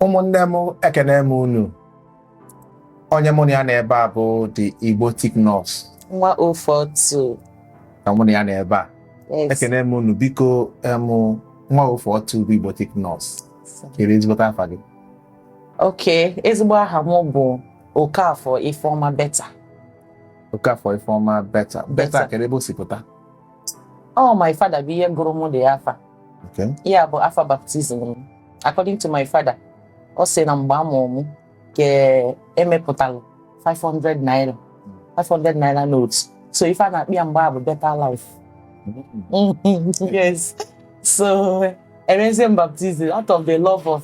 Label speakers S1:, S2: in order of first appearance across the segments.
S1: ụmụnne m ekene m unu onye mụ na ya nọ ebe a bụ the Igbotic Nurse nwa 042
S2: ka mụ na
S1: ya nọ ebe a yes ekene m unu
S2: biko
S1: em nwa 042 bụ Igbotic Nurse kere ezigbote afa gị
S2: okay ezigbo aha m bụ Okafọ Ifeọma Beta Okafọ
S1: Ifeọma beta beta Beta. kere ebe o si pụta
S2: Oh, my father bụ onye gụrụ m the afa Okay. ya
S1: bụ
S2: afa baptism m. according to my father ọ sị na mgbe a mụrụ m ka e mepụtara 500 naira 500 naira note so ife a na-akpọ ya mgbe ahụ bụ better life yes so e mezie m baptism out of the love of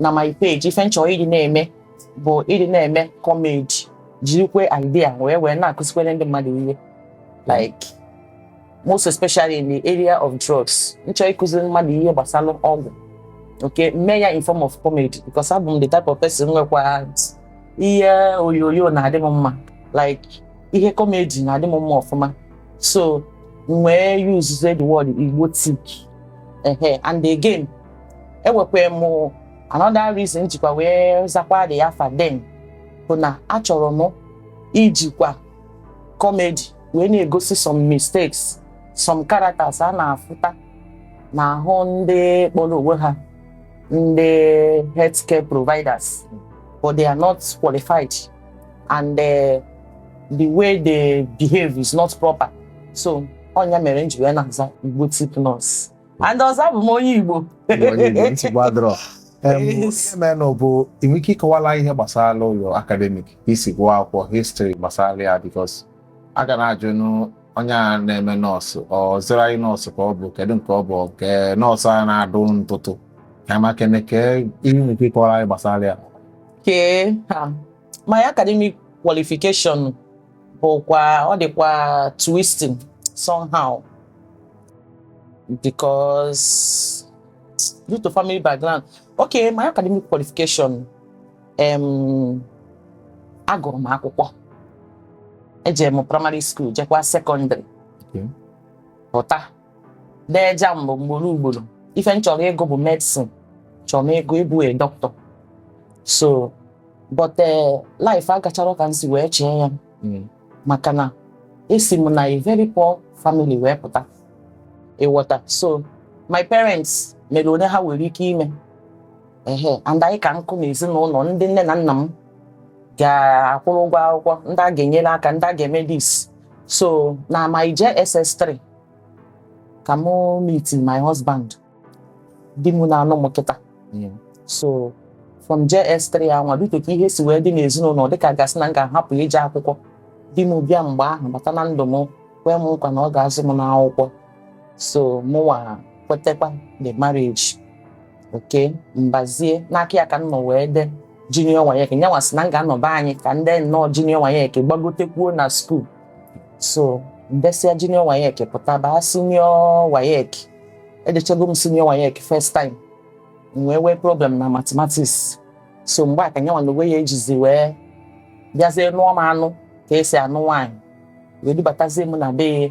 S2: na my page ife m chọ ịdị na-eme bụ ịdị na-eme comedy jirikwe idea wee wee na-akụzikwere ndị mmadụ ihe like most especially in the area of drugs m chọ ịkụziri mmadụ ihe gbasara ọgwụ m ga-eme ya in form of comedy because abụ m the type of person nwekwa ihe onyonyo na-adị m mma like ihe comedy na-adị m mma ọfụma so m wee use the word Igbotic ehe and again enwekwa m another reason m jikwa wee zakwa the afa then bụ na achọrọ m ijikwa comedy wee na-egosi some mistakes some characters a na-afụta n'ahụ ndị kpọrọ onwe ha ndị healthcare providers but they are not qualified and uh, the way they behave is not proper so ọ nya mere m ji wee na-aza Igbotic Nurse and ọzọ abụ m onye Igbo
S1: ihe menụ bụ i nwee ike ịkọwala ihe gbasara your academic i si gụọ akwụkwọ history gbasara ya because a ga na-ajụ onye a na-eme nurse ọ auxiliary nurse ka ọ bụ kedu nke ọ bụ nke nurse a na-adụ ntụtụ ka maka eme kee ihe i nwere ike ịkọwara anyị gbasara ya okay
S2: my academic qualification bụkwa ọ dịkwa twisting somehow because due to family background okay my academic qualification um, agụrụ m akwụkwọ ejere m primary school jekwa secondary Okay. pụta dee JAMB ugboro ugboro ife m chọrọ ịgụ bụ medicine chọrọ m ịgụ ịbụ a doctor so but eh, life agachara ka m si wee chee ya Mm. maka na esi m na a very poor family wee pụta ị ghọta so my parents mere one ha nwere ike ime ehe and anyị ka nkụ na ezinụlọ ndị nne na nna m ga-akwụrụ ụgwọ akwụkwọ ndị a ga-enyere aka ndị a ga-eme this so na my JSS3 ka mụ meet my husband di m na-anụ m kịta so from JS3 anwa dịka ka ihe si wee dị n'ezinụlọ dịka a ga-asị na m ga-ahapụ ije akwụkwọ di m bịa mgbe ahụ bata na ndụ m kwee m nkwa na ọ ga-azụ m n'akwụkwọ so mụnwa kwetekwa the marriage okay m bazie n'aka ya ka m nọ wee dee junior WAEC nyanwa sị na m ga-anọba anyị ka m dee nnọọ junior WAEC gbagotekwuo na school so m desịa junior WAEC pụta baa senior WAEC edechago m senior WAEC first time m wee nwee problem na mathematics so mgbe a ka nyanwa na onwe ya jizi wee bịazie nụọ m anụ ka e si anụ nwaanyị wee dubatazie m na be ya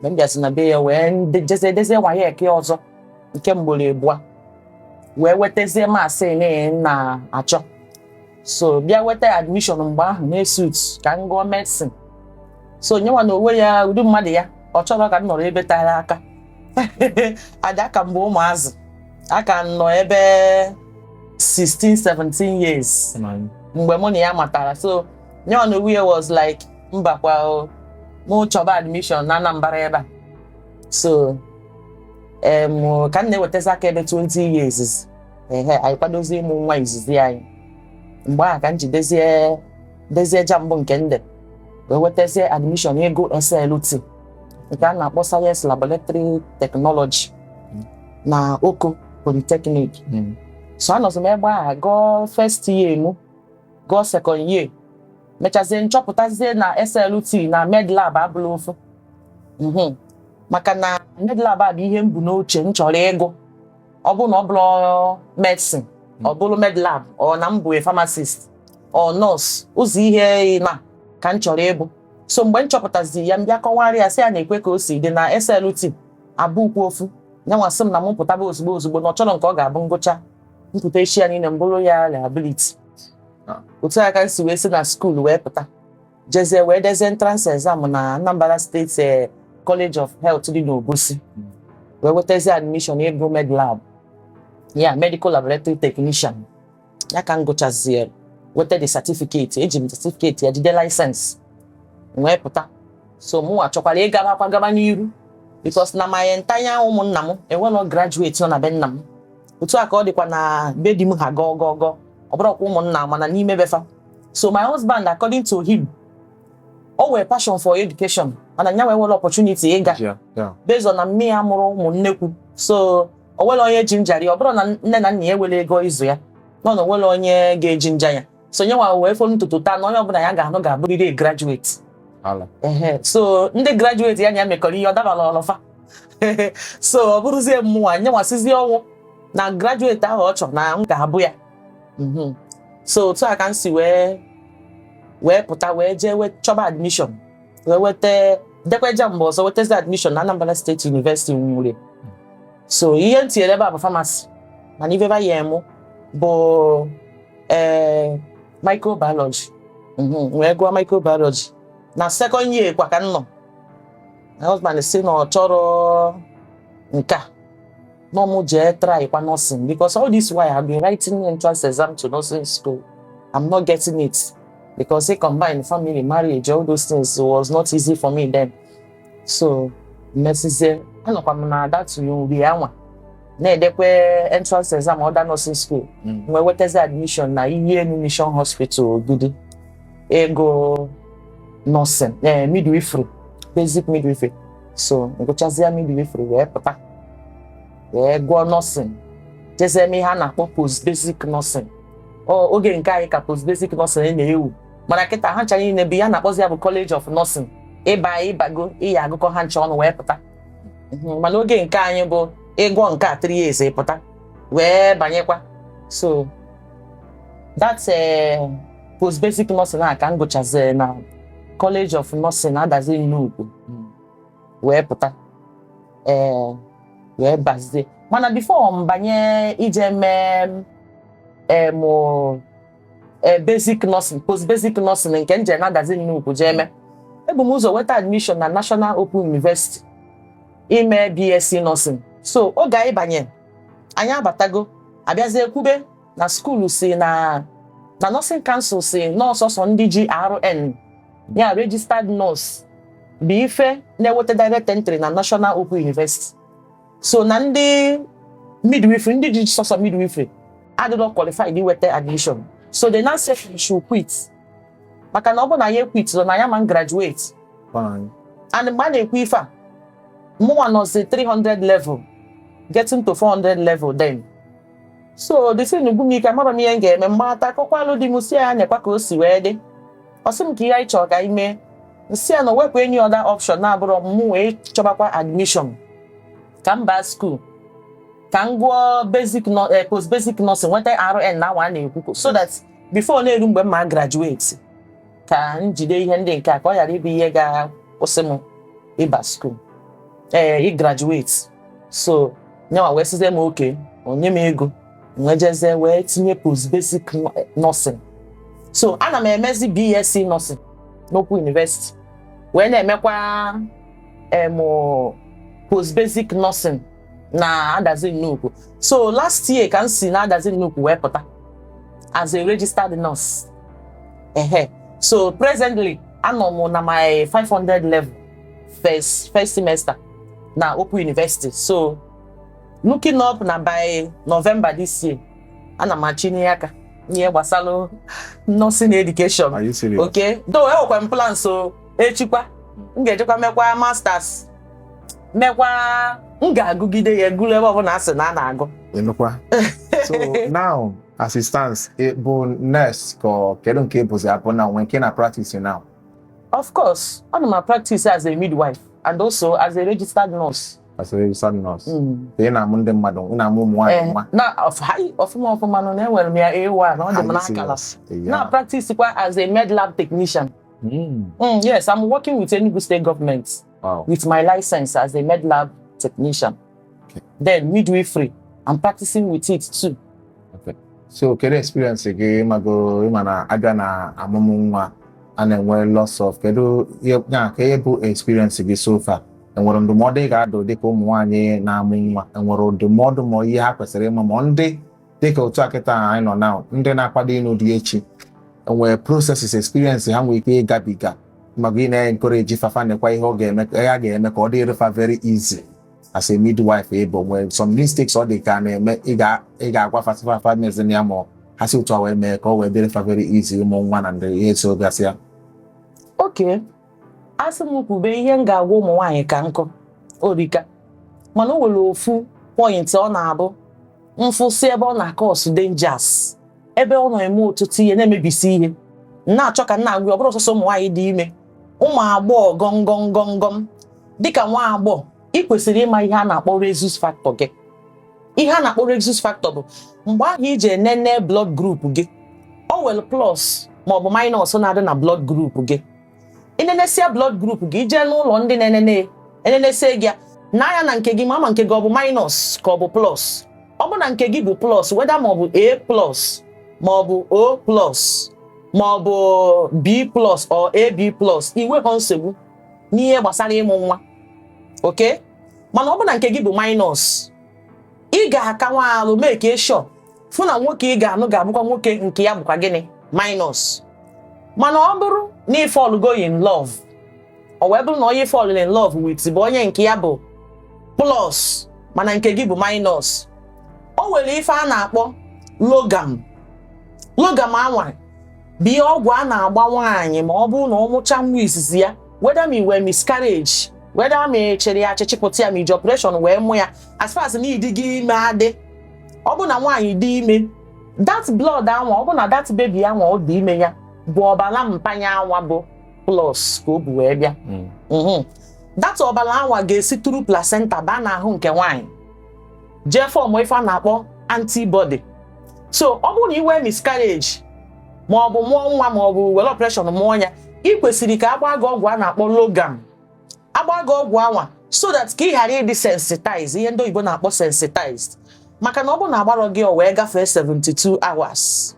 S2: mgbe m bịazi na be ya wee nde- jezie dezie WAEC ọzọ nke mgboro abụọ wee wetazie maths m na-achọ so bịa weta admission mgbe ahụ na ESUT ka m gụọ medicine so nyanwa na onwe ya ụdị mmadụ ya ọ chọrọ ka m nọrọ ebe tara aka and aka m bụ ụmụazị aka m nọ ebe 16 17 years mgbe mụ na ya matara so nyanwa na onwe ya was like mbakwa mụ chọba admission na Anambra ebe a so ka m na-ewetazi aka ebe 20 years ehe anyị kwadozie ịmụ nwa izizi anyị mgbe ahụ ka m ji dezie dezie JAMB nke m ji wee wetazie admission ịgụ SLT nke a na-akpọ Science Laboratory Technology na Oko Polytechnic Mm. so anọzi m ebe a gụọ first year mụ gụọ second year mechazie m chọpụtazie na SLT na medlab abụlọ ofu Mhm. maka na medlab a bụ ihe m bu n'uche m chọrọ ịgụ ọ bụrụ na ọ bụlọ medicine hmm. ọ bụrụ medlab or na m bụ pharmacist or nurse ụzọ ihe ịnọ ka m chọrọ ịbụ so mgbe m chọpụtazi ya m bịa kọwara ya sị ya neekwa ka o si dị na SLT abụlọkwa ofu nyanwa sị m na m pụtaba ozugbo ozugbo na ọ chọrọ nke ọ ga-abụ m gụchaa m pụta echi ya niile m bụrụ ya liability ah. otu a ka m si wee si na school wee pụta jezie wee dezie entrance exam na Anambra State eh, College of Health dị n'Obosi wee wetazie admission ịgụ med lab ya medical laboratory technician ya ka m gụchazie weta the certificate eji m certificate ya jide license m wee pụta so mụ achọkwara ịgabakwa gaba n'iru because na my entire ụmụnna m e nwelọ graduate nọ na be nna m otu a ka ọ dịkwa na be di m ha gọọ gọọ gọọ ọ bụrọkwa ụmụnna mana n'ime be fa so my husband according to him o nwere passion for education mana nya enwerọ opportunity ịga Yeah, yeah. based on na nne ya mụrụ ụmụ nnekwu so o nwere onye ji njari ọ bụrụ na nne na nna ya nwere ego ịzụ ya nọ na o nwere onye ga-eji nja ya so nyanwa wee folu ntutu taa na onye ọbụla ya ga-anụ ga-abụrịrị a graduate Ala. Ehe, so ndị graduate ya na ya mekọrọ ihe ọ dabarọlụ fa so ọ bụrụzie mmụnwa nyanwa sizie ọnwụ na graduate ahụ ọ chọrọ na m ga-abụ ya mhm. so otu a ka m si wee pụta wee jee wee chọba admission wee weta dekwee JAMB ọzọ wetazi admission na Anambra State University Uli so ihe m tinyere ebe a bụ pharmacy mana ife ba nye mụ bụ ee eh, microbiology mhm, wee gụọ microbiology na second year kwa ka m nọ my husband sị na ọ chọrọ nke a no mu jee try kwa nursing because all this while I've been writing entrance exam to nursing school I'm not getting it because he combined family marriage all those things was not easy for me then so mesizie anọkwa m na that nri anwa na-edekwe entrance exam other nursing school Mm. wee wetazi admission na iyi enu mission hospital ogidi ego nursing eh, midwifery basic midwifery so ngụchazie midwifery wee pụta wee gụọ nursing jezie mee ihe a na-akpọ post basic nursing oge nke anyị ka post basic nursing na-ewu mana kịta ha ncha niile bụ ihe a na-akpọzi ya bụ college of nursing ị ba ị bago ị ya-agụkọ ha ncha ọnụ wee pụta mhm, mana oge nke anyị bụ ị gụọ nke a three years pụta wee banyekwa so that eh, post basic nursing a ka m gụchazi na College of Nursing Adazi Nnukwu hmm. wee pụta ee wee bazie mana before m banye ije mee em e, basic nursing post basic nursing nke m je na Adazi Nnukwu jee mee ebu m ụzọ weta admission na National Open University ime BSc nursing so oge anyị banye anyị abatago a bịazie kwube na school sị na na Nursing Council sị na ọ sọsọ ndị ji RN ya registered nurse bụ ife na-eweta direct entry na National Open University so na ndị midwifery ndị ji sọsọ midwifery adịrọ qualified iweta admission so they now say we should quit maka na ọ bụ na anyị equiturọ na anyị ama graduate Fine. and mgbe a na-ekwu ife a mụnwa nọzi 300 level getting to 400 level then so the thing gwu m ike amarọ m ihe m ga-eme m gbata akọkwalụ di m sị ya nekwa ka o si wee dị ọ sị m kee ihe anyị chọrọ ka anyị mee m sị ya na o nwerọ any other option na-abụrọ mụ wee chọbakwa admission ka m baa school ka m gụọ basic nọ- eh, post basic nursing nweta RN anwa a na-ekwu so that before na-eru mgbe m ma graduate ka m jide ihe ndị nke a ka ọ ghara ịbụ ihe ga-akwụsị m ịba school ee ị graduate so nyanwa wee sịzie m okay o nye m ego wee jezie wee tinye post basic nursing so ana m emezi BSc nursing n'Open University wee na-emekwa em post basic nursing na Adazi Nnukwu so last year ka m si na Adazi Nnukwu wee pụta as a registered nurse ehe so presently anọ m na my 500 level first first semester na Open University so looking up na by November this year ana m achịnie aka n'ihe gbasara nursing education Are you serious? okay
S1: though enwekwa m
S2: plan so echikwa m ga-ejekwa mekwa masters mekwa m ga-agụgide ya
S1: gụrụ
S2: ebe ọbụla a sị na a na-agụ ị nụkwa
S1: so now as it stands ị bụ nurse ka ọ- kedu nke ị bụzi abụ na nwee nke ị na practice now of
S2: course ana m practice as a midwife and also as a registered nurse as a registered
S1: nurse Mm. ị na-amụ ndị mmadụ ị na-amụ ụmụ nwaanyị Eh, nwa na of- hi,
S2: ọfụma ọfụma nnọọ na enwere m ya A1 na ọ dị m Highly n'akala serious. Yeah. na practice kwa as a med lab technician Mm. Mm, yes, I'm working with Enugu State government wow. with my license as a med lab technician. Okay. Then midwifery. I'm practicing with it too. Okay.
S1: So kedu experience gị mago ị ma na a bịa na amụmụ nwa a na-enwe lots of kedu ya ka ihe bụ experience gị so far enwere ndụmọdụ ị ga-adụ dịka ụmụ nwaanyị na-amụ nwa enwere ndụmọdụ ma ihe ha kwesịrị ịma ma ndị dịka otu a kịta ahụ anyị nọ na ndị na-akwado ịnụ di echi e nwee processes experience ha nwee ike ịgabiga maka ị na-encourage fafa nekwa ihe ọ ga-eme ya ga-eme ka ọ dịrị fa very easy as a midwife ọ bụ e nwee some mistakes ọ dị ka na-eme ị ga-agwa fa sị fa fa mezie ya ma ha si otu a wee mee ka ọ wee dịrị fa very easy ịmụ nwa na ndị ihe so gasịa okay
S2: a sị m kwube ihe m ga-agwa ụmụ nwaanyị ka m kọọ o rika mana o nwere ofu point ọ na-abụ m fụsịa ebe ọ na-acause dangers ebe ọ na-eme ọtụtụ ihe na-emebisi ihe m na-achọ ka m na-agwa ya, ọ bụrọ sọsọ ụmụ nwaanyị dị ime ụmụ agbọghọ gọngọngọngọm dịka nwa agbọghọ ị kwesịrị ịma ihe a na-akpọ rhesus factor gị ihe a na-akpọ rhesus factor bụ mgbe ahụ i ji enene blood group gị o nwere plus maọbụ minus na-adị na blood group gị i nenesia blood group gị i jee n'ụlọ ndị na-enene e nenesie gị n'anya na nke gị mara ma nke gị ọ bụ minus ka ọ bụ plus ọ bụ na nke gị bụ plus whether ma ọ bụ A plus ma ọ bụ O plus ma ọ bụ B plus or AB plus i nweha nsogbu n'ihe gbasara ịmụ nwa okay mana ọ bụ na nke gị bụ minus ị ga-aka nwa alụ make sure fụ na nwoke ị ga-anụ ga-abụkwa nwoke nke ya bụkwa gịnị minus mana ọ bụrụ na ị fallgo in love ọ wee bụrụ na onye ị fall in love with bụ onye nke ya bụ plus mana nke gị bụ minus o nwere ife a na-akpọ RhoGAM RhoGAM anwa bụ ihe ọgwụ a na-agba nwaanyị ma ọ bụrụ na ọ mụcha nwa izizi ya whether ma i nwee miscarriage whether ma a chịrị ya achị chịpụta ya ma e ji operation wee mụ ya as far as na ị dịgo ime adị ọ bụ na nwaanyị dị ime that blood anwa ọ bụ na that baby anwa ọ dị ime ya bụ ọbara mpa ya anwa bụ plus ka o bu wee bịa mm. mhm. that ọbara anwa ga-esi through placenta baa n'ahụ nke nwaanyị jee form ife a na-akpọ antibody so ọ bụrụ na i nwee miscarriage ma ọ bụ mụọ nwa ma ọ bụ were operation mụọ ya i kwesịrị ka a gbaa gị ọgwụ a na-akpọ Rhogam a gbaa gị ọgwụ anwa so that ka ị ghara ịdị sensitized ihe ndị oyibo na-akpọ sensitized maka na ọ bụrụ na a gbarọ gị o wee gafee 72 hours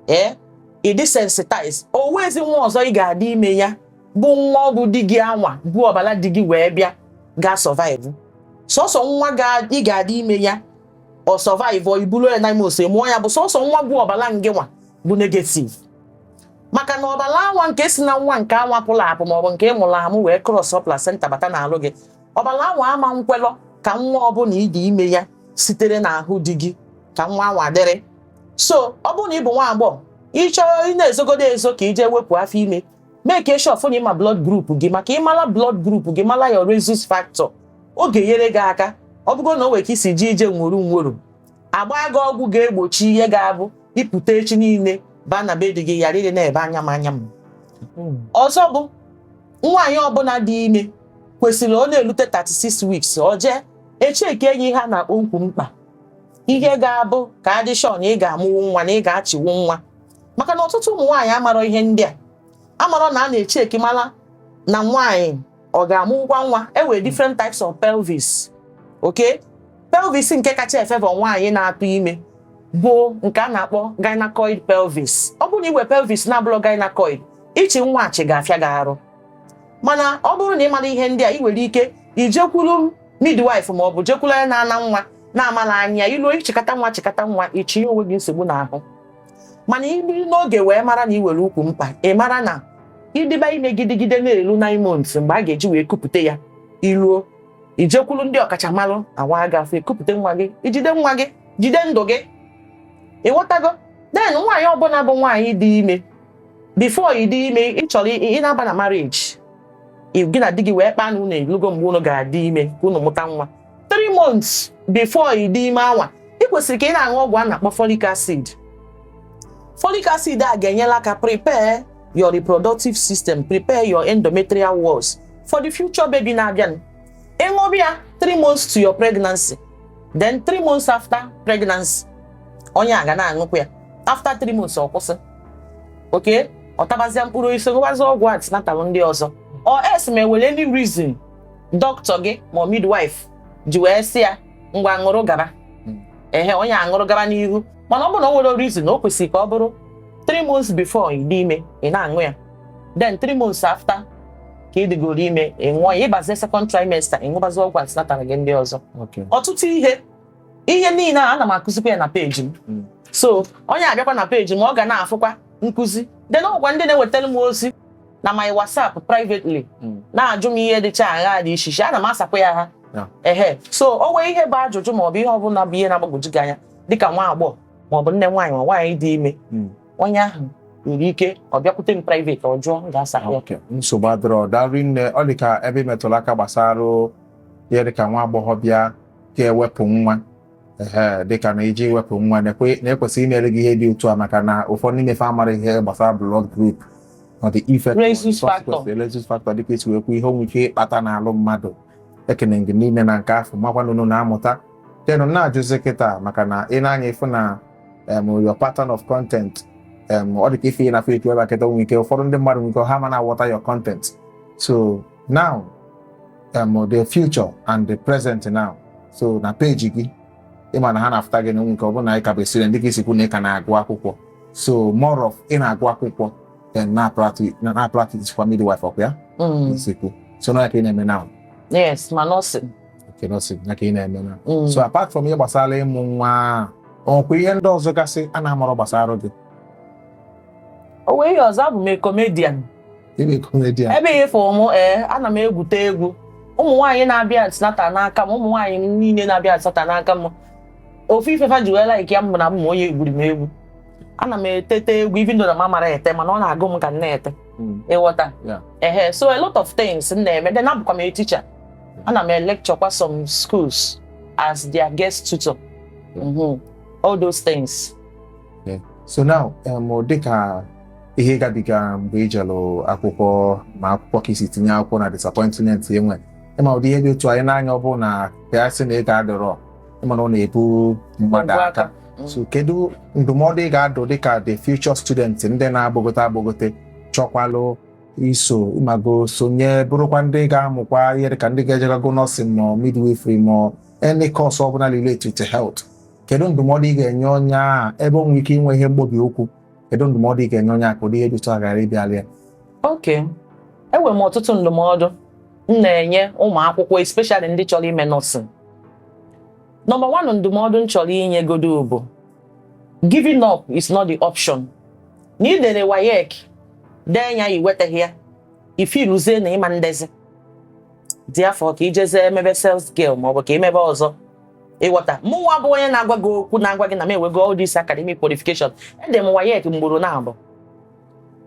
S2: ee eh, ị dị sensitized o nwezi nwa ọzọ ị ga-adị ime ya bụ nwa ọgwụ di gị anwa bu ọbara di gị wee bịa ga survive sọsọ nwa ị ga-adị ime ya ọ survive i bulu ya nine months mụọ ya bụ sọsọ nwa bu ọbala ngị nwa bụ negative maka na ọbala anwa nke si na nwa nke anwa pụrụ apụ maọbụ nke ị mụrụ amụ wee cross placenta bata n'alụ gị ọbala anwa ama nkwelọ ka nwa ọbụla ị dị ime ya sitere n'ahụ di gị ka nwa anwa dịrị so ọ bụrụ na ị bụ nwa agbọghọ ị chọọ ị na-ezogodo ezo ka i je wepụ afọ ime make sure fụ na ị ma blood group gị maka ị mala blood group gị mala your rhesus factor ọ ga-enyere gị aka ọ bụgo na o nwere ka i si ji ije nwuru nwuru a gbaa gị ọgwụ ga-egbochi ihe ga-abụ ị pụta echi niile baa na be di gị ghara ịdị na-ebe anya m anya m hmm. ọzọ bụ nwaanyị ọbụla dị ime kwesịrị ọ na-elute 36 weeks o jee e checkie ya ihe a na-akpọ ukwu mkpa ihe ga-abụ ka a dị sure na ị ga-amụwu nwa na ị ga-achịwu nwa maka na ọtụtụ ụmụ nwaanyị amarọ ihe ndị a amarọ na a na-echeki mara na nwaanyị ọ ga-amụkwa nwa e nwere different types of pelvis okay pelvis nke kacha efavour nwaanyị na-atụ ime bụ nke a na-akpọ gynecoid pelvis ọ bụrụ na i nwee pelvis na-abụrọ gynecoid ịchị nwa achị ga-afịa gị arụ mana ọ bụrụ na ị marọ ihe ndị a i nwere ike ijekwuru midwife ma ọ bụ jekwuru onye na-ana nwa na-amala anya i luo chịkata nwa chịkata nwa ichi onwe gị nsogbu n'ahụ mana i biri n'oge wee mara na i nwere ukwu mkpa ị mara na ị dịba ime gidigide na-elu nine months mgbe a ga-eji wee kupụta ya eruo i jekwuru ndị ọkachamara a waa gị afọ kupụta nwa gị i jide nwa gị jide ndụ gị ị ghọtago then nwaanyị ọbụla bụ nwaanyị dị ime before ị dị ime ị chọrọ ị na-aba na marriage gị na di gị wee kpaa na unu elugo mgbe unu ga-adị ime ka unu mụta nwa three months before ị dị ime anwa ị kwesịrị ka ị na-aṅụ ọgwụ a na-akpọ folic acid folic acid a ga-enyela aka prepare your reproductive system prepare your endometrial walls for the future baby na-abịa ị ṅụrụ ya three months to your pregnancy then three months after pregnancy onye a ga na-aṅụkwa ya after three months ọ kwụsị okay ọ tabazia mkpụrụ osisi ṅụbazi ọgwụ antenatal ndị ọzọ or else ma e nwere any reason doctor gị ma midwife ji wee sị ya ngwa ṅụrụ gaba hmm. ehe onye aṅụrụ gaba n'ihu mana ọ bụrụ na o nwerọ reason na o kwesịrị ka ọ bụrụ 3 months before ị dị ime ị na-aṅụ ya then 3 months after ka ị dịgoro ime ị ṅụọ ya ị bazie second trimester ị ṅụbazi ọgwụ antenatal gị ndị ọzọ ọtụtụ ihe ihe niile a ana m akụzikwa ya na peji m hmm. so onye abịakwa na peji m ọ ga na-afụkwa nkụzi then o nwekwa ndị na-ewetara m ozi na my WhatsApp privately hmm. na-ajụ m ihe dịcha agha dị iche iche ana m asakwa ha ehe so o nwee ihe bụ ajụjụ ma ọ bụ ihe ọ bụla bụ ihe na-agbagwoju gị anya dịka nwa agbọghọ ma ọ bụ nne nwaanyị ma nwaanyị dị ime hmm. onye ahụ nwere ike ọ bịakwute m private ọ jụọ m ga-asa ya nsogbu adịrọ daalụ
S1: nne ọ dị ka ebe i metụrụ aka gbasara ihe dịka nwa agbọghọ bịa ga-ewepụ nwa ee dịka na iji wepụ nwa na-ekwesị imere gị ihe dị otu a maka na ụfọdụ n'ime fa amara ihe gbasara blood group ọ dị ife rhesus factor dịka i si wee kwu ihe o nwe ike ịkpata n'alụ mmadụ ekene gị niile na nke afọ makwa na ụnụ na-amụta then na-ajụzi kịta maka na i ne anya ị fụ na your pattern of content ọ dị ka ife na Facebook ebe a kịta o nwe ike ụfọdụ ndị mmadụ nwere ike ha ma na-aghọta your content so now um, the future and the present now so na peji gị ị ma na ha na-afụta gị n'onwe nke ọ bụrụ na ị ka bụ student dịka i si kwu na ị ka na-agụ akwụkwọ so more of ị na-agụ akwụkwọ then na-practice kwa midwife ọkwa ya mm. i si kwu so na ka ị na-eme now yes
S2: ma nursing okay nursing
S1: na ka ị na-eme now mm. so apart from ihe gbasara ịmụ nwa ọkwa ihe ndị ọzọ gasị a na-amarọ gbasara gị
S2: o nwee ihe ọzọ abụ m comedian
S1: Ị bụ comedian. ebe ị fụ m
S2: ee ana m egwute egwu ụmụ nwaanyị na-abịa antenatal n'aka m ụmụ nwaanyị niile na-abịa antenatal n'aka m ofu ife fa ji wee like ya m bụ na m bụ onye egwuri m egwu ana m etete egwu even though na m amara ete mana ọ na-agụ m ka m na-ete Mm. ị ghọta Yeah. ehe so a lot of things m na-eme then abụkwa m a teacher ana m electurekwa some schools as their guest tutor Yeah. Mhm. all those things
S1: so now um, dịka ihe ị gabiga mgbe ị jelụ akwụkwọ ma akwụkwọ ka i si tinye akwụkwọ na disappointment i nwe ị ma ụdị ihe dị otu anyị n'anya ọ bụrụ na ya sị na ị ga-adọrọ ị ma na ọ na-ebu mmadụ Ngwa aka aka. Mm. so kedu ndụmọdụ ị ga-adụ dịka the future student ndị na-agbagote agbagote chọkwalụ iso ị mago sonye bụrụkwa ndị ga-amụkwa ihe dịka ndị ga-ejegago nursing ma midwifery ma any course ọbụla related to health kedu ndụmọdụ ị ga-enye onye a ebe o nwere ike inwe ihe mkpọbi ụkwụ kedu ndụmọdụ ị ga-enye onye a ka ụdị ihe dị otu a ghara ịbịalụ ya
S2: okay enwere m ọtụtụ ndụmọdụ m na-enye ụmụ akwụkwọ especially ndị chọrọ ime nursing number one ndụmọdụ m chọrọ inye godo bụ giving up is not the option na i dere WAEC dee ya i wetaghị ya i feeluzie na ị ma edezi therefore ka i jezie emebe sales girl maọbụ ka i mebe ọzọ ị ghọta mụnwa bụ onye na-agwa gị okwu na-agwa gị na m enwego all this academic qualification ede m WAEC mgboro naabụ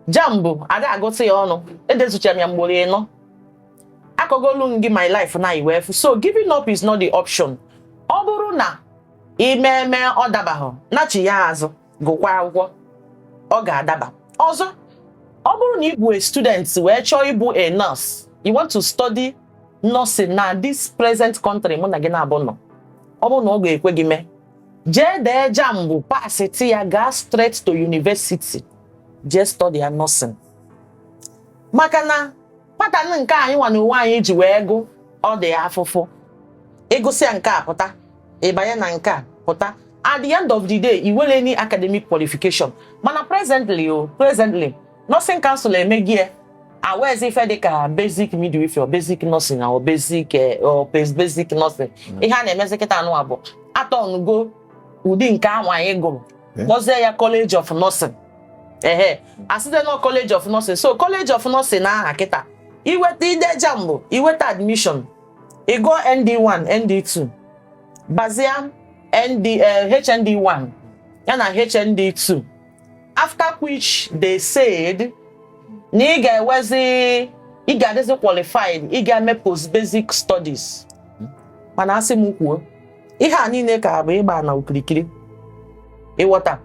S2: JAMB a da agụta ya ọnụ edezuchara m ya mgboro ịnọ akọgolu m gị my life na iwe efu so giving up is not the option ọ bụrụ na i meme ọ dabahụ nachigha azụ gụkwa akwụkwọ ọ ga-adaba ọzọ ọ bụrụ na ị bụ a student wee chọọ ịbụ a nurse you want to study nursing na this present country mụ na gị naabụ nọ ọ bụrụ na ọ ga-ekwe gị mee jee dee JAMB pasịtị ya gaa straight to university jee study ya nursing maka na pattern nke anyịnwa na onwe anyị ji wee gụ ọ dị afụfụ ị gụsịa nke a pụta ị banye na nke a pụta at the end of the day i nwerọ any academic qualification mana presently o oh, presently nursing council emego ya enwezi ife dịka basic midwifery basic nursing or basic eh, or basic nursing mm. ihe a na-emezi kịta a nọ bụ a turnugo ụdị nke ahụ anyị gụrụ eh? kpọzie ya College of Nursing ehe e site na College of Nursing so College of Nursing na aha kịta i weta i dee JAMB i weta admission ị gụọ ND1 ND2 bazie ND HND1 eh, ya na HND2 after which they said na ị ga-ewezi ị ga-adịzi qualified ị ga-eme post basic studies mana a sị m kwuo ihe a niile ka bụ ịgba na okirikiri ị ghọta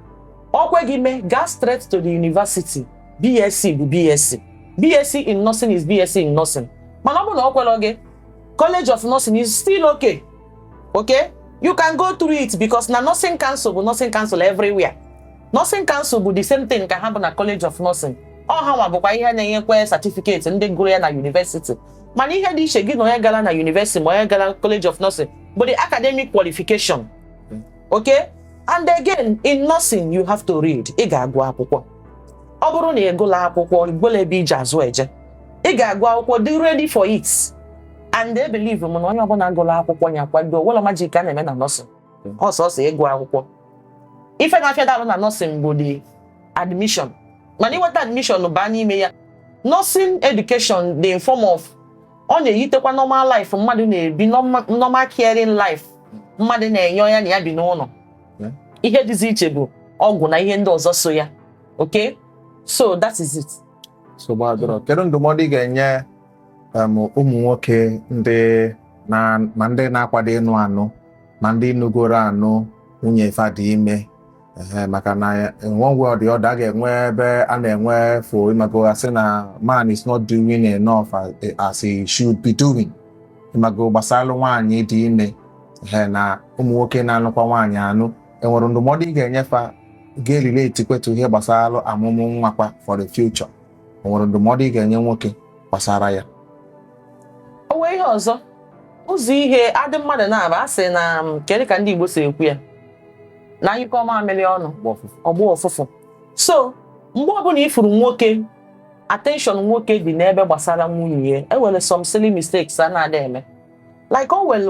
S2: o kwe gị mee gaa straight to the university BSc bụ BSc BSc in nursing is BSc in nursing mana ọ bụrụ na o kwerọ gị college of nursing is still okay okay you can go through it because na nursing council bụ nursing council everywhere nursing council bụ the same thing ka ha bụ na college of nursing ọ hanwa bụkwa ihe na-enyekwa certificate ndị gụrụ ya na university mana ihe dị iche gị na onye gara na university ma onye gara college of nursing bụ the academic qualification okay and again in nursing you have to read ị ga-agụ akwụkwọ ọ bụrụ na ị gụla akwụkwọ i nwerọ ebe iji azụ eje ị ga-agụ akwụkwọ dị ready for it and they believe m na onye ọbụla gụrụ akwụkwọ ya kwado o nwerọ magic a na-eme na nursing ọ sọsọ ịgụ akwụkwọ ife na-afịa arụ na nursing bụ the admission mana ị nweta admission baa n'ime ya nursing education dị in form of ọ na-eyitekwa normal life mmadụ na-ebi normal caring life mmadụ na-enye onye ya na ya bi n'ụlọ ihe dịzi iche bụ ọgwụ na ihe ndị ọzọ so ya okay so that is it so
S1: gbadoro kedu ndụmọdụ ị ga-enye um, ụmụ nwoke ndị ma ndị na-akwado ịnụ anụ ma ndị nụgoro anụ nwunye fa dị ime ee maka na in one way or the other a ga-enwe ebe a na-enwe fault ịmago asị na man is not doing enough as, as he should be doing ịmago gbasalụ nwaanyị dị ime ee na ụmụ nwoke na-anụkwa nwaanyị anụ enwere ndụmọdụ ị ga-enye fa ga-erelate kwetụ ihe gbasalụ ọmụmụ nwa kwa for the future enwere ndụmọdụ ị ga-enye nwoke gbasara ya
S2: o nwee ihe ọzọ ụzọ ihe adị mmadụ na-aba a sị na um, kedu ka ndị Igbo si ekwu ya na a nyụkọọ mamịrị ọnụ ọ gbọọ ụfụfụ so mgbe ọbụla ị fụrụ nwoke attention nwoke dị n'ebe gbasara nwunye ya enwere some silly mistakes a na-adị eme like o nwere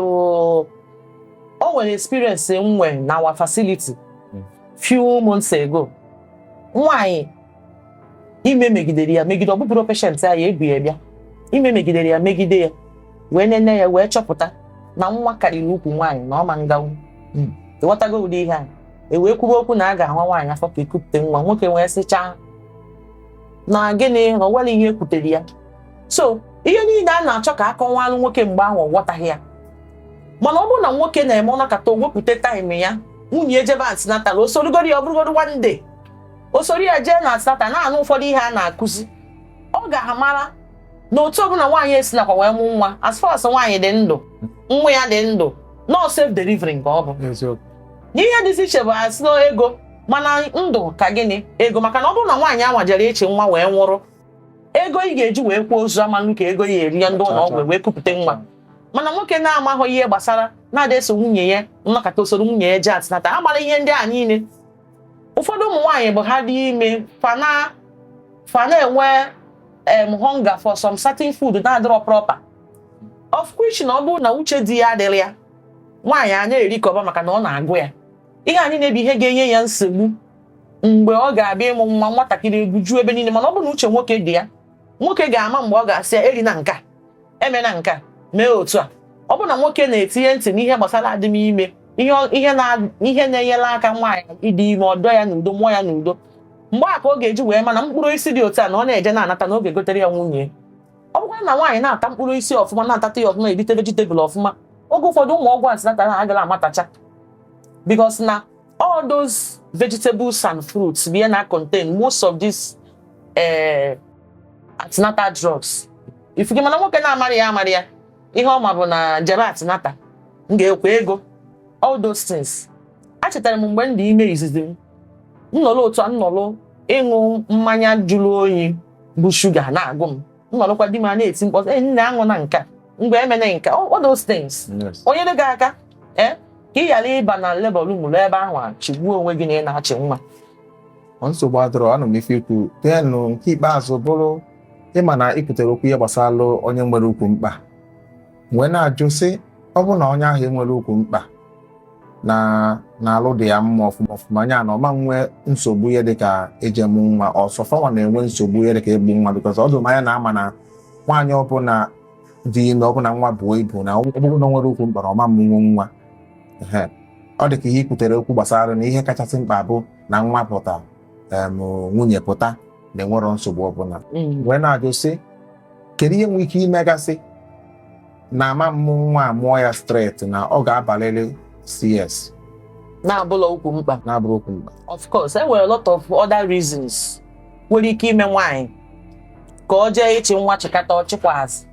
S2: o nwere experience nwe na our facility hmm. few months ago nwanyị ime megidere ya megide ọ bụbụrọ patient anyị ebu ya bịa ime megidere ya megide ya wee nene ya wee chọpụta na nwa karịrị ukwu nwaanyị na ọ ma nganwu hmm. ịghọtago ụdị ihe a e wee kwuba okwu na a ga-awa nwaanyị afọ ka ekupụta nwa nwoke wee sịchaa na gịnị na ọ ihe ekwutere ya so ihe niile a na-achọ ka akọwalụ nwoke mgbe ahụ ọ ghọtaghị ya mana ọ bụrụ na nwoke na-eme ọ nọkata o wepụta time ya nwunye ejebe antenatal o sorugodu ya ọ bụrụgodu one day o soro ya jee na antenatal na-anụ ụfọdụ ihe a na-akụzi ọ ga-amara na otu ọbụla nwaanyị esi nakwa wee mụ nwa as far as nwaanyị dị ndụ nwa ya dị ndụ na ọ safe delivery ka ọ bụ na ihe dịzi iche bụ asị na ego mana ndụ ka gịnị ego maka na ọ bụrụ na nwaanyị anwa jere eche nwa wee nwụrụ ego ị ga-eji wee kwaa ozu amanụ ka ego ya eri ya ndị ụlọ ọgwụ wee kupụta nwa mana nwoke na-amaghị ihe gbasara na-ada eso nwunye ya ọ nọkata o soro nwunye ya jee antenatal a mara ihe ndị a niile ụfọdụ ụmụ nwaanyị bụ ha dị ime fa na fa na-enwe em hunger for some certain food na-adịrọ proper of which na ọ bụrụ na uche di ya adịrọ ya nwaanyị a na-erikọba maka na ọ na-agụ ya ihe anyị na-ebi ihe ga-enye ya nsogbu mgbe ọ ga-abịa ịmụ nwa nwatakịrị egwuju ebe niile mana ọ bụrụ na uche nwoke dị ya nwoke ga-ama mgbe ọ ga-asị ya erina nka emena nka mee otu a ọ bụrụ na nwoke na-etinye ntị n'ihe gbasara adịm ime ihe na-enyere aka nwaanyị ịdị ime ọdọ ya n'udo mụọ ya n'udo mgbe a ka ọ ga-eji wee ma na mkpụrụ osisi dị otu a na ọ na-eje na-anata na ọ ga-egotere ya nwunye ọ bụkwa na nwaanyị na-ata mkpụrụ osisi ọfụma na-atata ya ọfụma erite vegetable ọfụma oge ụfọdụ ụmụ ọgwụ antenatal ha agala amatacha because na all those vegetables and fruits bụ ya na-contain most of these uh, eh, antenatal drugs ị fụgo mana nwoke na-amarọ ya amarọ ya ihe ọ ma bụ na jebe antenatal m ga-akwụ ego all those things achetara m mgbe m dị ime izizi m m nọrọ otu a m nọrọ ịṅụ mmanya jụrụ oyi bu shuga na-agụ m m nọrọkwa di m a na-eti mkpọtụ ee nne aṅụna nka mgbo emena nka all those things o nyere gị aka ee eh, ka ị ghara ịba na labour room luo ebe ahụ a chịgbuo onwe gị na ị na-achị nwa
S1: nsogbu adịrọ anụ m ife i kwu tenụ nke ikpeazụ bụrụ ị ma na i kwutere okwu ihe gbasara onye nwere ukwu mkpa wee na-ajụ sị ọ bụ na onye ahụ enwere ukwu mkpa na na alụ dị ya mma ọfụma ọfụma anya na ọ ma nwee nsogbu ihe dịka e je ịmụ nwa ọ sọ fanwa na-enwe nsogbu ihe dịka egbu nwa because ọ dị m anya na a ma na nwaanyị ọbụla dị ime ọbụla nwa buo ibu na ọ bụrụ na o nwere ukwu mkpa na ọ ma mụnwu nwa ọ dị ka ihe i kwutere okwu gbasara na ihe kachasị mkpa bụ na nwa pụta nwunye pụta na enwerọ nsogbu ọbụla mm. wee na-ajụ sị kedu ihe nwere ike imegasị na ama mụ nwa amụọ ya straight na ọ ga-abalịrị
S2: CS na-abụrọ ukwu mkpa na-abụrọ ukwu mkpa
S1: of course e nwere a lot
S2: of other reasons nwere ike ime nwaanyị ka ọ jee ịchị nwa chịkata ọ chịkwazị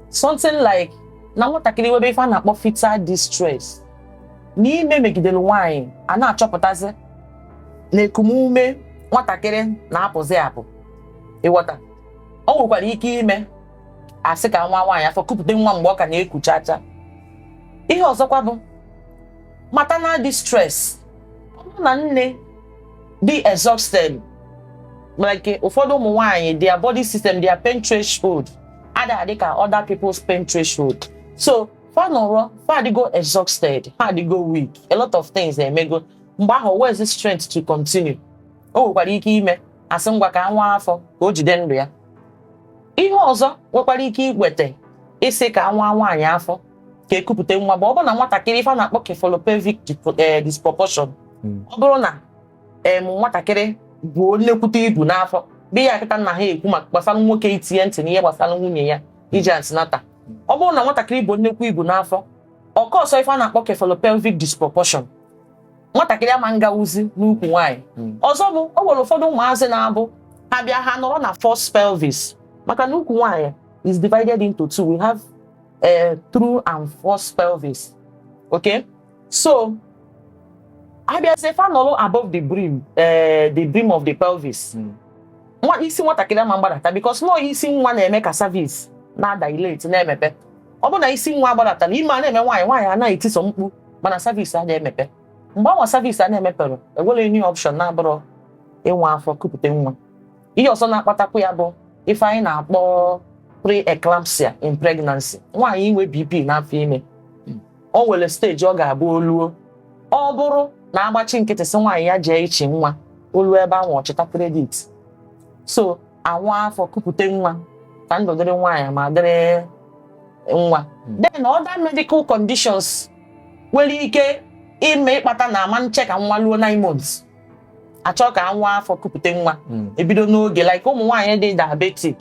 S2: something like na nwatakịrị nwebe ife a na-akpọ fetal distress na ime megidere nwaanyị a na-achọpụtazi na ekumume nwatakịrị na-apụzi apụ ị ghọta o nwekwara ike ime a sị ka a waa nwaanyị afọ kupụta nwa mgbe ọ ka na-ekucha acha ihe ọzọkwa bụ maternal distress ọ bụrụ na nne dị exhausted like ụfọdụ ụmụ nwaanyị their body system their pain threshold adịghị adị ka other people's pain threshold so fa nọrọ fa adịgo exhausted ha adịgo weak a lot of things emego mgbe ahụ where is the strength to continue o nwekwara ike ime a sị ngwa ka a waa afọ ka o jide ndụ ya ihe ọzọ nwekwara ike iweta ịsị ka a waa nwaanyị afọ ka e kupụta nwa bụ ọ bụrụ na nwatakịrị ife a na-akpọ cephalopelvic eh, disproportion hmm. ọ bụrụ na nwatakịrị bu nnekwute ibu n'afọ bụ ya kịta na ha ekwu maka gbasara nwoke itinye ntị n'ihe gbasara nwunye ya ije antenatal ọ bụrụ na nwatakịrị bu nnekwu ibu n'afọ ọ cause ife a na-akpọ cephalopelvic disproportion nwatakịrị ama ngawuzi n'ukwu nwaanyị hmm. ọzọ bụ o nwere ụfọdụ ụmụazị na-abụ ha bịa ha nọrọ na false pelvis maka na ukwu nwaanyị is divided into two we have a eh, true and false pelvis okay so abịazie fa nọrọ above the brim eh, the brim of the pelvis hmm. nwa isi nwatakịrị ama mgbadata because na ọ isi nwa na-eme ka cervix na-adilate na-emepe ọ bụ na isi nwa gbadatara ime a na-eme nwaanyị nwaanyị anaghị etiso mkpu mana cervix a na-emepe mgbe anwa cervix a na-emeperọ enwerọ any option na-abụrọ ịwa afọ kupụta nwa ihe ọzọ na-akpatakwu ya bụ ife anyị na-akpọ pre-eclampsia in pregnancy nwaanyị inwe BP n'afọ ime o nwere stage ọ ga-abụ o luo ọ bụrụ na agbachi nkịtị sị nwaanyị ya jee ichi nwa o luo ebe ahụ ọchịta kredit so awa afọ kupute nwa ka ndụ dịrị nwaanyị ma dịrị nwa hmm. then other medical conditions nwere ike ime ịkpata na ama nche ka nwa luo nine months achọ ka awa afọ kupute nwa hmm. ebido n'oge like ụmụ nwaanyị dị diabetic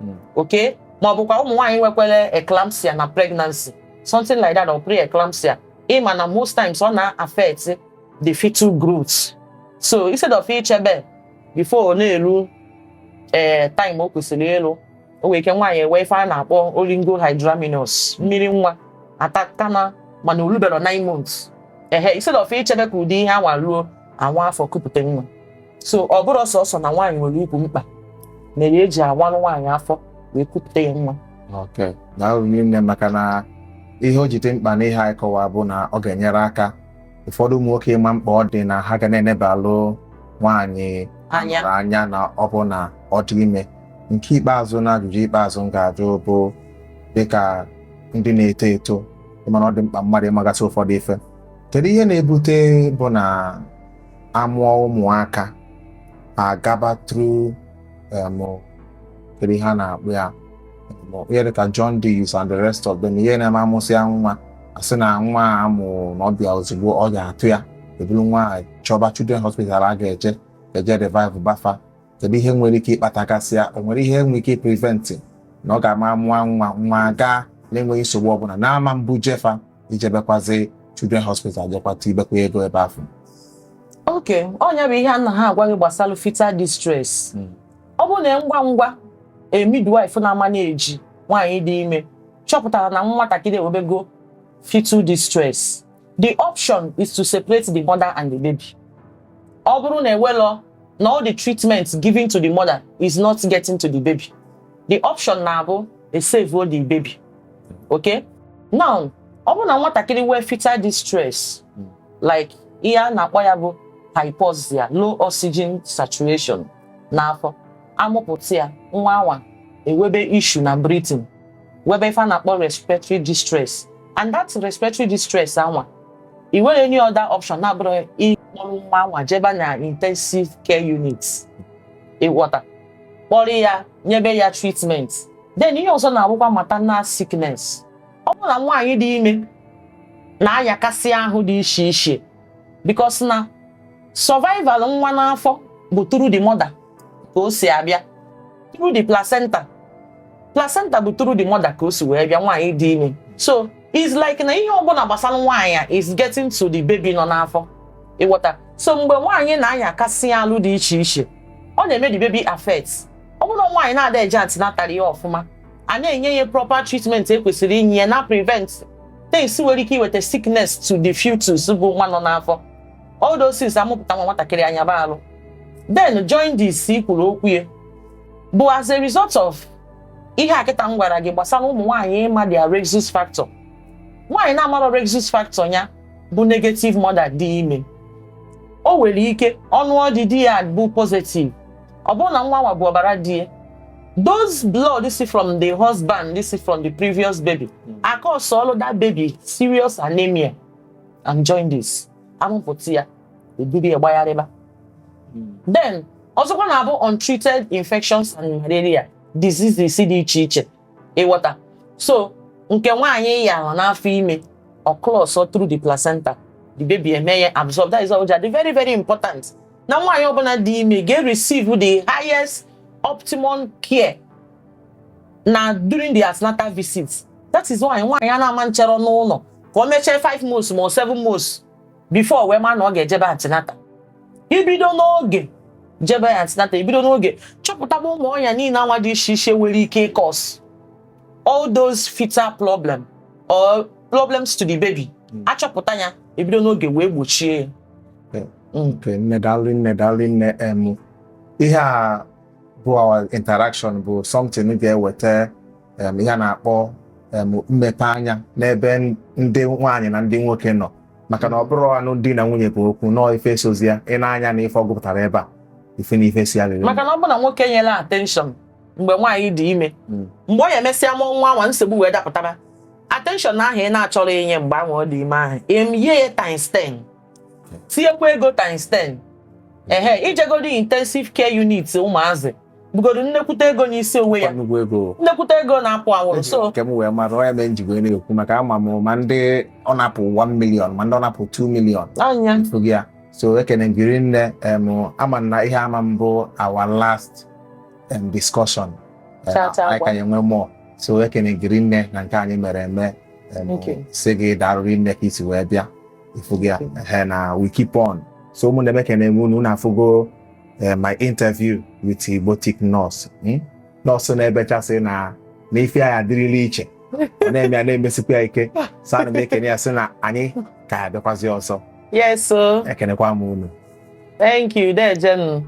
S2: hmm. okay ma ọ bụkwa ụmụ nwaanyị nwekwara eclampsia na pregnancy something like that or pre-eclampsia ịma na most times ọ na-affect the fetal growth so instead of ichebe before ọ na-eru ee eh, time o kwesịrị ilu o nwere ike nwaanyị enwe ife a na-akpọ oligohydramnios mmiri nwa atakana mana o luberọ 9 months ehe instead of ichebe ka ụdị ihe anwa ruo awa afọ kupụta nwa so ọ bụrọ sọsọ na nwaanyị nwere ukwu mkpa mere eji awanụ nwaanyị afọ wee kupụta ya nwa okay daalụ
S1: nne maka na ihe o ji dị mkpa n'ihe anyị kọwa bụ na ọ ga-enyere aka ụfọdụ ụmụ nwoke ịma mkpa ọ dị na ha ga na-enebalụ nwaanyị anya mụrụ anya na ọ bụ na ọ dị ime nke ikpeazụ na ajụjụ ikpeazụ m ga-ajụ bụ dịka ndị na-eto eto ịma na ọ dị mkpa mmadụ ịmagasị ụfọdụ ife kedu ihe na-ebute bụ na amụọ ụmụaka agaba through em, kedu ihe a na-akpọ ya ihe dịka jaundice and the rest of them ihe na-eme amụsịa nwa asị na nwa a mụrụ na ọbịa ozugbo ọ ga-atụ ya eburu nwa a chọba children hospital a ga-eje eje revive ba fa kedu ihe nwere ike ịkpatagasịa o nwere ihe nwere ike prevent na ọ ga-ama mụọ nwa nwa gaa na-enweghị nsogbu ọbụla na-ama mbụ jefa ijebekwazi children hospital jekwata ibekwa ego ebe afụ
S2: okay ọ nya bụ ihe a na ha agwa gị gbasara fetal distress ọ bụrụ na ngwa ngwa a midwife na-ama na-eji nwaanyị dị ime chọpụtara na nwatakịrị ewebego fetal distress the option is to separate the mother and the baby ọ bụrụ na ewelọ na all the treatment given to the mother is not getting to the baby the option na-abụ esave the baby okay now ọ bụrụ na nwatakịrị nwee fetal distress like ihe a na-akpọ ya bụ hypoxia low oxygen saturation n'afọ amụpụta ya nwa anwa ewebe issue na breathing webe ife a na-akpọ respiratory distress and that respiratory distress anwa i nwerọ any other option na-abụrọ ịkpọrọ nwa anwa jebe na intensive care unit ị ghọta kpọrọ ya nyebe ya treatment then ihe ọzọ na-abụkwa maternal sickness ọ bụrụ na nwaanyị dị ime na-ayakasị ahụ dị iche iche because na survival nwa n'afọ bụ through the mother ka o si abịa through the placenta placenta bụ through the mother ka o si wee bịa nwaanyị dị ime so it's like na ihe ọbụla gbasara nwaanyị a is getting to the baby nọ n'afọ ị ghọta so mgbe nwaanyị na-ayakasị alụ dị iche iche ọ na-eme the baby affect ọ bụrụ na nwaanyị na-ada eje antenatal ya ọfụma a na-enye ya proper treatment e kwesịrị inye ya na-prevent things nwere ike iweta sickness to the fetus bụ nwa nọ n'afọ all those things amụpụta nwa nwatakịrị ayaba alụ then jaundice kwuru okwu ya bụ as a result of ihe a kịta m gwara gị gbasara ụmụ nwaanyị ịma their rhesus factor nwaanyị na-amarọ rhesus factor ya bụ negative mother dị ime o nwere ike ọ nụọ di di ya bụ positive ọ bụrụ na nwa anwa bụ ọbara di ya those blood si from the husband si from the previous baby hmm. a-causeọlụ that baby serious anemia and jaundice amụpụta ya e buru ya gbagharịba hmm. then ọzọkwa na-abụ untreated infections and malaria diseases dị iche iche ị ghọta so nke nwaanyị yalụ n'afọ ime ọ crossọ through the placenta the baby eme ya absorb that is all very very important na nwaanyị ọbụla dị ime ga-receive the highest optimum care na during the antenatal visit that is why nwaanyị a na-ama nchere n'ụlọ ka o mechie 5 months ma ọ 7 months before wee ma na ọ ga-ejebe antenatal i bido n'oge jebe antenatal ebido n'oge chọpụtaba ụmụ ọya niile anwa dị iche iche nwere ike ị-cause all those fetal problem or problems to the baby hmm. achọpụta ya ebido n'oge wee gbochie ya
S1: nne daalụ nne daalụ nne em ihe a bụ our interaction bụ something ga-eweta em ihe a na-akpọ em mmepe anya n'ebe ndị nwaanyị na ndị nwoke nọ maka na ọ bụrọ anụ di na nwunye bụ okwu na ọọ ife sozi ya i nee anya na ife ọ gụpụtara ebe a ị fụ na ife si ya lere maka na ọ bụ na nwoke
S2: nyere attention mgbe nwaanyị dị ime mgbe ọ ya-emesịa mụọ nwa nwa nsogbu wee dapụtara attention ahụ ị na-achọrọ inye mgbe ahụ ọ dị ime ahụ emie ya times 10 tinyekwa ego times 10 ehe i jegodi intensive care unit ụmụazị bụgodo nnekwute ego n'isi onwe ya nnukwu ego nnekwute ego na-apụ awụrụ so nke m wee mara onye mee
S1: njigo na-ekwu maka ama m ma ndị ọ na-apụ 1 million ma ndị ọ na-apụ 2 million anya mfu gị
S2: ya so
S1: ekene m gị rinne em, ama m na ihe a ama-abụ our last em, discussion Em, Cha, cha, anyị gwa. ka ya-enwe more so ekene m gị rinne na nke anyị mere eme em, Okay. sị gị daarụ rinne ka i si wee bịa ị fụgo ya ehe na we keep on so ụmụnne m ekene m unu unu afụgo eh, my interview with Igbotic Nurse hmm? nọọsụ na-ebechasị na na ife ya adịrịla iche ọ na-eme ya na-emesikwa ya ike so ana m ekene ya sị na anyị ka ya-abịakwazi ọzọ
S2: yes o
S1: ekenekwa m unu
S2: thank
S1: you deje nụ